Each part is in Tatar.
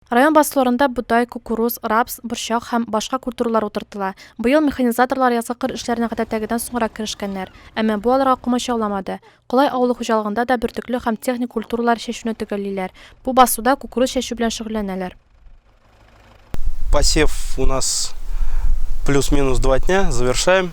Район басуларында бодай, кукуруз, рапс, борчак һәм башка культуралар утыртыла. Быел механизаторлар язгы кыр эшләренә гадәттәгедән соңрак керешкәннәр. Әмма бу аларга комачауламады. Колай авылы хуҗалыгында да бөртекле һәм техник культуралар чәчүне төгәллиләр. Бу басуда кукуруз чәчү белән шөгыльләнәләр. Посев у нас плюс-минус два дня, завершаем.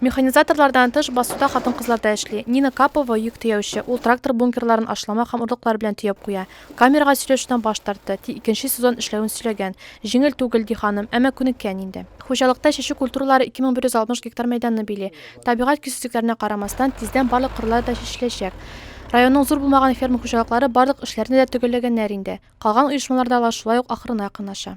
Механизаторлардан тыш басуда хатын-кызлар да эшли. Нина Капова, йөк төяүче. Ул трактор бункерларын ашлама һәм орлыклар белән төяп куя. Камерага сөйләшүдән баш тартты, ти икенче сезон эшләвен сөйләгән. Җиңел түгел, ди ханым, әмма күнеккән инде. Хуҗалыкта чәчү культуралары 2160 гектар мәйданны били. Табигать көйсезлекләренә карамастан, тиздән барлык кырлар да чәчеләчәк. Районның зур булмаган ферма хуҗалыклары барлык эшләрне дә төгәлләгәннәр инде. Калган оешмалар да алар шулай ук ахырына якынлаша.